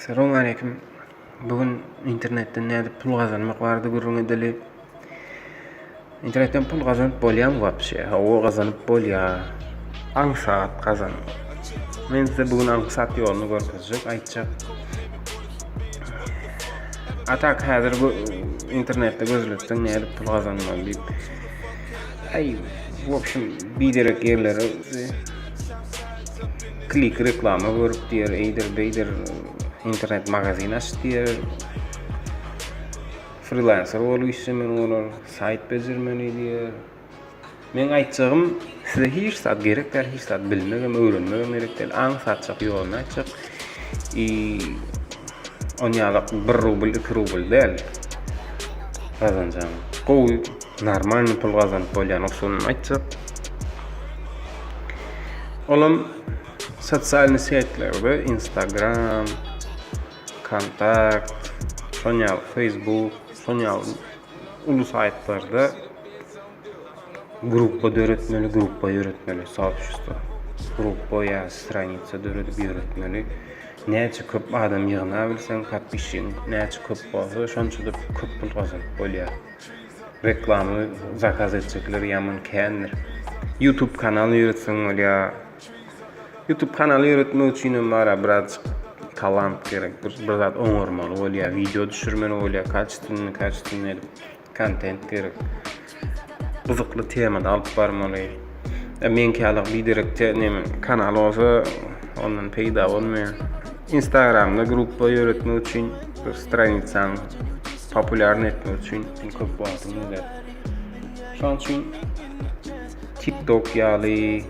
Salam aleýkum. Bu gün internetden nädip pul gazanmak barada gürrüň edeli. Internetden pul gazanyp bolýarmy wapşe? Hawa gazanyp bolýar. Aňsat gazan. Men size bu gün aňsat ýoluny görkezjek, aýtjak. Atak häzir internetde gözletseň nädip pul gazanmaly diýip. Aý, wapşem biderek ýerlere Klik reklama görüp diýer, eýdir, beýdir, internet magazin aç diýer. Frilanser bolup işlemeli bolar, saýt bejermeli diýer. Meň aýtjagym, size hiç zat gerek däl, hiç zat bilmegem, öwrenmegem gerek däl. Aň satjak, ýoluny aýtjak. I onýalak bir rubl, iki rubl däl gazanjagyň. Gowy. Normalny pul gazanyp bolýan usulyny aýtsak. Olam sosialny setlerde Instagram, Kontakt, Sonya Facebook, Sonya ulu saytlarda gruppa döretmeli, gruppa ýöretmeli, soobşestvo. Gruppa ýa stranitsa döredip ýöretmeli. Näçe köp adam ýygna bilseň, podpişçiň näçe köp bolsa, şonça köp pul gazanyp bolýar. Reklama zakaz etjekler ýaman kändir. Youtube kanal ýöretseň bolýa. Youtube kanaly ýöretmek üçin hem bara birazjyk talant gerek. Bir, bir zat oňarmaly bolýa, wideo düşürmeli bolýa, kaçitini, kaçitini edip kontent gerek. Gyzykly temada alyp barmaly. E, men kälik biderekçe neme kanal olsa ondan peýda bolmaýa. Instagramda gruppa ýöretmek üçin bir stranitsaň populýarny etmek üçin iň köp wagtyň gider. Şonuň üçin TikTok ýaly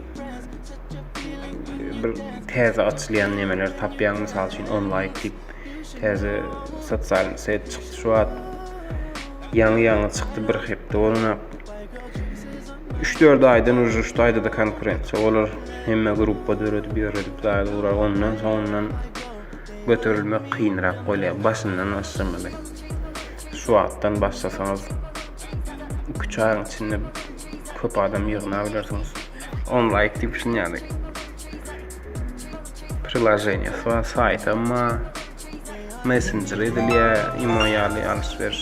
bir täze açylýan nemeler tapýaň, mysal üçin onlaýk diýip täze sosial set çykdy şu wagt. Ýaňy-ýaňy çykdy, bir hepde bolanok. Üç-dört aýdan uje şu taýda-da konkurensiýa bolar. Hemme gruppa döredip ýöredip zaýada urar. Ondan soňundan göterilmek kynrak bolýar. Başyndan başlamaly. Şu wagtdan başlasaňyz iki-üç aýyň içinde köp adam ýygnap bilersiňiz. Onlaýk diýip şun ýaly priloženiýasy bar, saýtam bar, messenjer edilýär, imo ýaly alş-beriş.